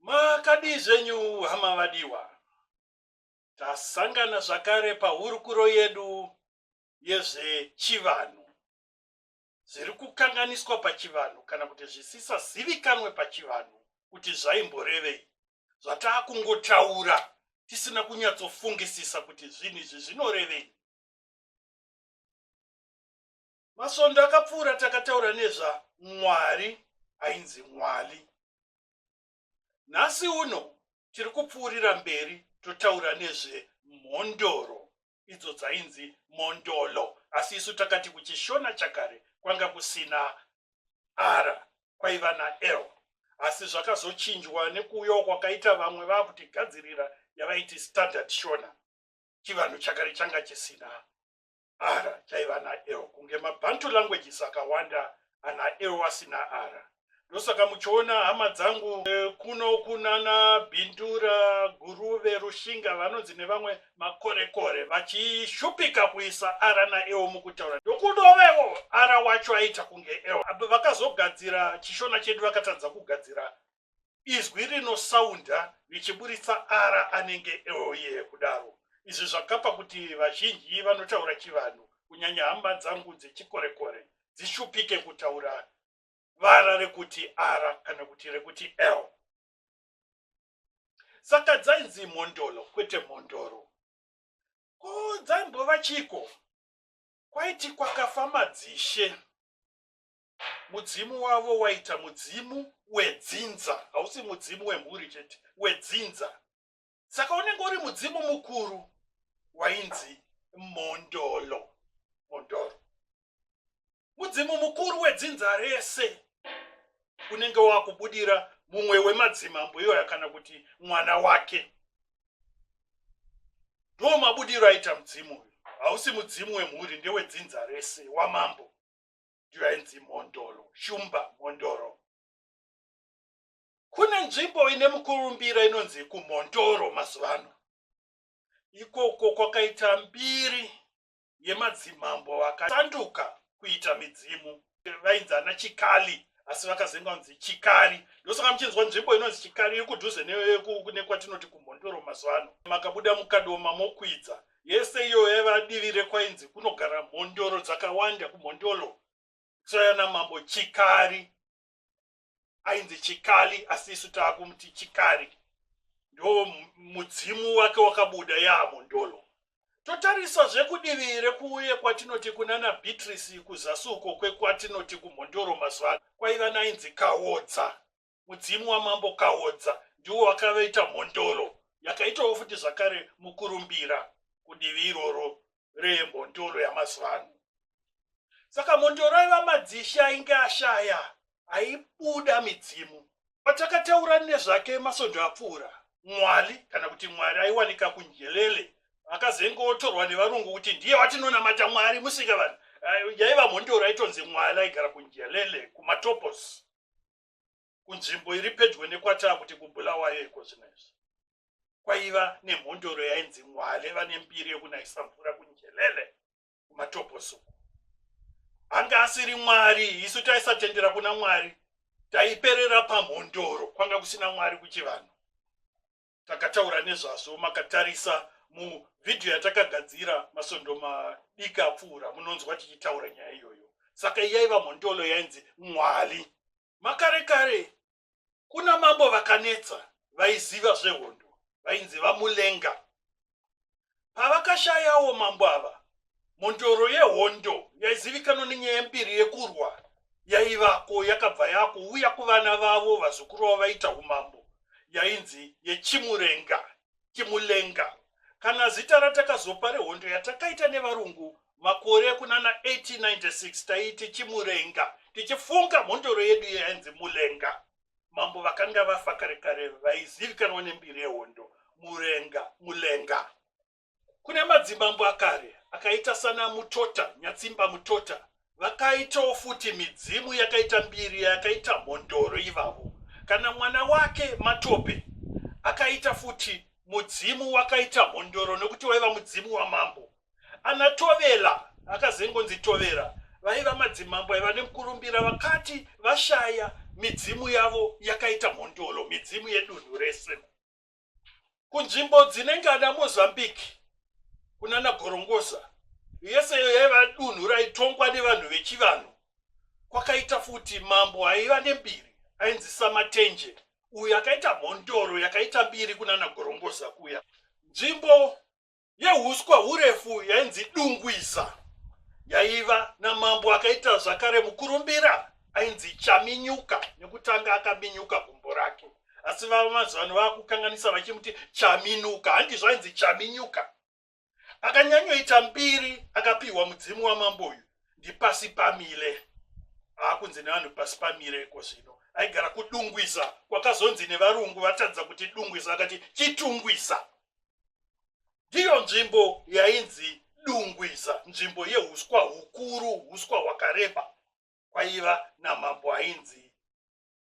Makadii zvenyu hama vadiwa? Tasangana zvakare pahurukuro yedu yezvechivanhu zviri kukanganiswa pachivanhu kana kuti zvisisazivikanwe pachivanhu kuti zvaimborevei zvataakungotaura tisina kunyatsofungisisa kuti zvinhu izvi zvinorevei masvondo akapfuura takataura nezva mwari ainzi mwali nhasi uno tiri kupfuurira mberi totaura nezvemhondoro idzo dzainzi mondolo asi isu takati kuchishona chakare kwanga kusina r kwaiva nal asi zvakazochinjwa nekuuyawo kwakaita vamwe vakutigadzirira yavaiti standard shona chivanhu chakare changa chisina ara chaiva na l kunge mabantu languages akawanda ana l asina ara ndosaka muchiona hama dzangu eh, kuno kunana bindura guruve rushinga vanonzi nevamwe makorekore vachishupika kuisa ara na l mukutaura ndokudovewo ara wacho aita kunge l vakazogadzira chishona chedu vakatadza kugadzira izwi rinosaunda richiburitsa ara anenge eoye kudaro izvi zvakapa kuti vazhinji vanotaura chivanhu kunyanya hamba dzangu dzechikorekore dzishupike kutaura vara rekuti ara kana kuti rekuti l saka dzainzi mhondolo kwete mhondoro ko dzaimbova chiko kwaiti kwakafa madzishe mudzimu wavo waita mudzimu wedzinza hausi mudzimu wemhuri chete wedzinza saka unenge uri mudzimu mukuru wainzi mondolo mondolo mudzimu mukuru wedzinza rese unenge wakubudira mumwe wemadzimambo iyoya kana kuti mwana wake ndo mabudiro aita mudzimu uyu hausi mudzimu wemhuri ndewedzinza rese wamambo ndivainzi mhondoro shumba mhondoro kune nzvimbo ine mukurumbira inonzi kumhondoro mazuva ano ikoko kwakaita mbiri yemadzimambo vakasanduka kuita midzimu vainzi ana chikali asi vakazenga kunzi chikari ndosaka muchinzwa nzvimbo inonzi chikari iri kudhuze nekwatinoti kumhondoro mazuva ano makabuda mukadoma mokwidza yese iyo yaiva divi rekwainzi kunogara mhondoro dzakawanda kumhondolo dzaiva namambo chikari ainzi chikali asi isu taakumuti chikari ndo mudzimu wake wakabuda yaamhondolo totarisa zvekudivi rekuuye kwatinoti kunana beatrice kuzasuko kwekwatinoti kumhondoro mazuva kwaiva nainzi kawodza mudzimu wamambo kaodza ndiwo wakavaita mhondoro yakaitawo futi zvakare mukurumbira kudivi iroro remhondoro yamazuva ano saka mhondoro aiva madzishe ainge ashaya aibuda midzimu patakataura nezvake masondo apfuura mwari kana kuti mwari aiwanika kunjelele akazenge otorwa nevarungu kuti ndiye watinonamata mwari musika vanhu eh, yaiva mhondoro aitonzi mwari aigara kunjelele kumatoposi kunzvimbo iri pedyo nekwatava kuti kubulawayoiko zvino izvi kwaiva nemhondoro yainzi ngwale vane mbiri yekunayisa mvura kunjelele kumatoposuku anga asiri mwari isu taisatendera kuna mwari taiperera pamhondoro kwanga kusina mwari kuchivanhu takataura nezvazvo makatarisa muvhidhiyo yatakagadzira masondo madiki apfuura munonzwa tichitaura nyaya iyoyo saka iyaiva mhondolo yainzi mwali makare kare kuna mambo vakanetsa vaiziva zvehondo vainzi vamulenga Pavakashayawo mambo ava, mhondoro yehondo yaizivikanwa nenyaya mbiri yekurwa yaivako yakabva yakuuya kuvana vavo vazukuru vavo vaita umambo yainzi yechimurenga chimulenga kana zita ratakazopa rehondo yatakaita nevarungu makore ekunana 1896 taiti chimurenga tichifunga mhondoro yedu yainzi mulenga mambo vakanga vafa kare kare vaizivikanwa nembiri yehondo murenga mulenga kune madzimambo akare akaita sana mutota nyatsimba mutota vakaitawo futi midzimu yakaita mbiri yakaita mhondoro ivavo kana mwana wake matope akaita futi mudzimu wakaita mhondoro nokuti waiva mudzimu wamambo ana tovela akazengonzi tovera vaiva madzimambo aiva nemukurumbira vakati vashaya midzimu yavo yakaita mhondolo midzimu yedunhu rese kunzvimbo dzinenge ana mozambique kunana gorongoza yese iyo yaiva dunhu raitongwa nevanhu vechivanhu kwakaita futi mambo aiva nembiri ainzi samatenje uyo akaita mhondoro yakaita mbiri kunana gorongoza kuya nzvimbo yehuswa hurefu yainzi dungwiza yaiva namambo akaita zvakare mukurumbira ainzi chaminyuka nekutanga akaminyuka gumbo rake asi vava mazuva ano vakukanganisa vachimuti chaminuka handizvo ainzi chaminyuka akanyanyoita mbiri akapiwa mudzimu wamambo uyu ndipasi pamile aakunzi nevanhu pasi pamire ko zvino aigara kudungwiza kwakazonzi nevarungu vatadza kuti dungwiza akati chitungwiza ndiyo nzvimbo yainzi dungwiza nzvimbo yeuswa hukuru uswa hwakareba kwaiva namambo ainzi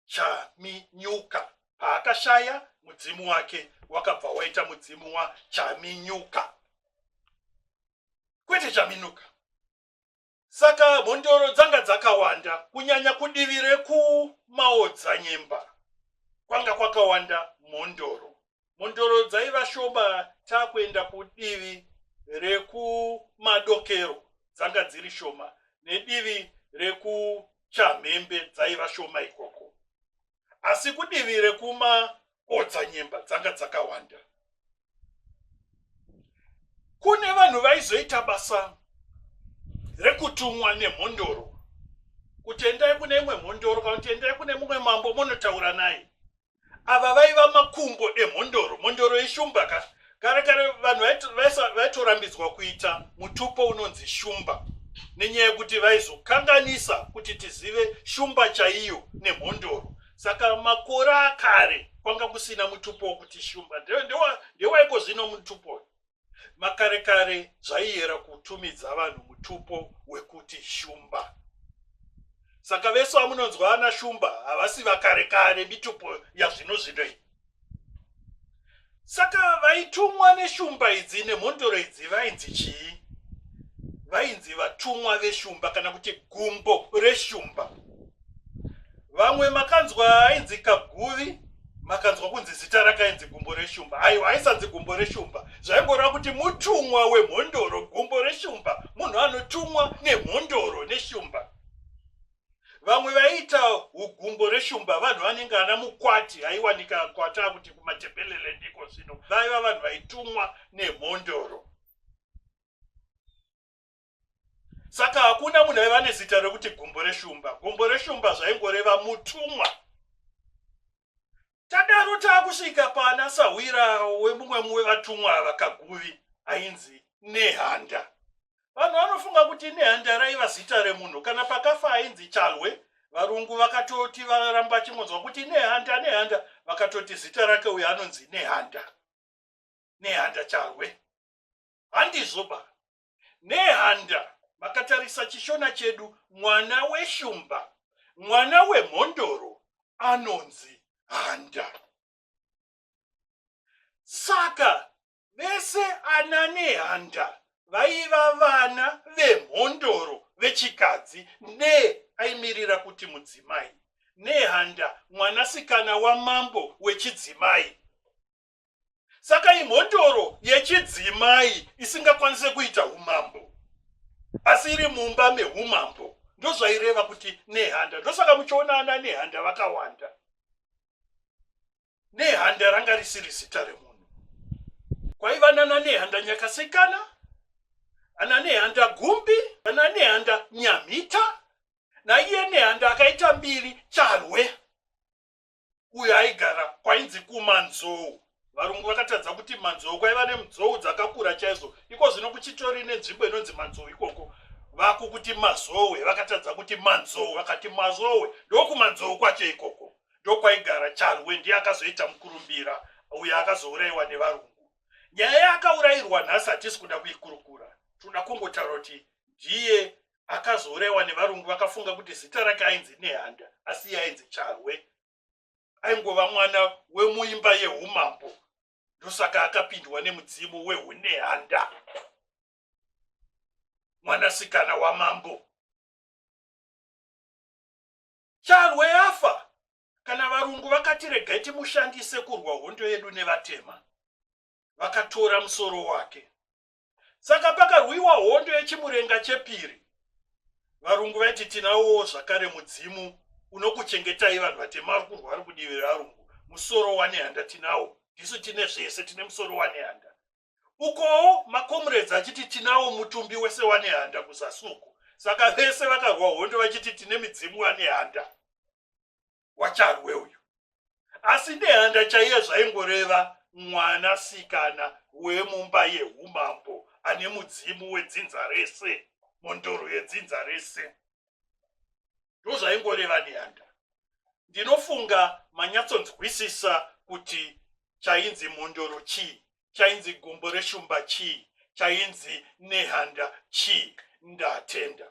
chaminyuka paakashaya mudzimu wake wakabva waita mudzimu wachaminyuka kwete chaminuka Saka mhondoro dzanga dzakawanda, kunyanya kudivi rekumaodzanyemba kwanga kwakawanda mhondoro. Mhondoro dzaiva shoma takuenda kudivi rekumadokero dzanga dziri shoma nedivi rekuchamhembe dzaiva shoma ikoko. asi kudivi rekuma odza nyemba dzanga dzakawanda kune vanhu vaizoita basa rekutumwa nemhondoro kuti endai kune imwe mhondoro kana kuti endai kune mumwe mambo monotaura naye ava vaiva makumbo emhondoro mhondoro yeshumba ka kare kare vanhu vaitorambidzwa kuita mutupo unonzi shumba nenyaya yekuti vaizokanganisa kuti tizive shumba chaiyo nemhondoro saka makore akare kwanga kusina mutupo wekuti shumba ndewaiko zvino mutupo makare kare zvaiyera kutumidza vanhu mutupo wekuti shumba saka vese vamunonzwa ana shumba havasi vakare kare mitupo yazvino zvino iyi saka vaitumwa neshumba idzi nemhondoro idzi vainzi chii vainzi vatumwa veshumba kana kuti gumbo reshumba vamwe makanzwa ainzi kaguvi makanzwa kunzi zita rakainzi gumbo reshumba aiwa aisanzi gumbo reshumba zvaingoreva kuti mutumwa wemhondoro gumbo reshumba munhu anotumwa nemhondoro neshumba vamwe vaiita ugumbo reshumba vanhu vanenge ana mukwati aiwanika kwata kuti kumatepelele ndiko zvino vaiva vanhu vaitumwa nemhondoro saka hakuna munhu aiva nezita rekuti gumbo reshumba gumbo reshumba zvaingoreva mutumwa Tadaro taakusvika pana sahwira wemumwe mumwe vatumwa ava Kaguvi ainzi Nehanda. Vanhu vanofunga kuti Nehanda raiva zita remunhu kana pakafa ainzi Chalwe. Varungu vakatoti varamba vachingonzwa kuti Nehanda Nehanda vakatoti zita rake uyo anonzi Nehanda. Nehanda Chalwe. Handizvo ba. nehanda vakatarisa chishona chedu mwana weshumba mwana wemhondoro anonzi handa saka vese ana nehanda vaiva vana vemhondoro vechikadzi ne aimirira kuti mudzimai nehanda mwanasikana wamambo wechidzimai saka imhondoro yechidzimai isingakwanise kuita umambo asi iri mumba meumambo ndozvaireva kuti nehanda ndosaka muchiona ana nehanda vakawanda nehanda ranga risiri zita remunhu kwaiva nana nehanda nyakasikana ana nehanda gumbi ana nehanda nyamhita naiye nehanda akaita mbiri charwe uyo aigara kwainzi kumanzou varungu vakatadza kuti manzou kwaiva nemudzou dzakakura chaizvo iko zvino kuchitori nenzvimbo inonzi manzou ikoko vako kuti mazowe vakatadza kuti manzou vakati mazowe ndokumanzou kwacho ikoko ndokwaigara charwe ndiye akazoita mukurumbira uyo akazourayiwa nevarungu nyaya yaakaurayirwa nhasi hatisi kuda kuikurukura tinoda kungotaura kuti ndiye akazouraiwa nevarungu vakafunga kuti zita rake ainzi nehanda asi iye ainzi charwe aingova mwana wemuimba yeumambo ndosaka akapindwa nemudzimu wehunehanda mwanasikana wamambo charwe afa kana varungu vakatiregai timushandise kurwa hondo yedu nevatema vakatora musoro wake saka pakarwiwa hondo yechimurenga chepiri varungu vaiti tinawo zvakare mudzimu unokuchengetai vanhu vatema vari kurwa vari kudivi rarungu musoro wanehanda tinawo ndisu tine zvese tine musoro wanehanda ukowo makomuredzi achiti tinawo mutumbi wese wanehanda kuzasuku saka vese vakarwa hondo vachiti tine midzimu wanehanda wacharwe uyu asi ndehanda chaiye zvaingoreva mwana sikana wemumba yeumambo ane mudzimu wedzinza rese mondoro yedzinza rese ndozvaingoreva nehanda ndinofunga manyatsonzwisisa kuti chainzi mondoro chii chainzi gumbo reshumba chii chainzi nehanda chii ndatenda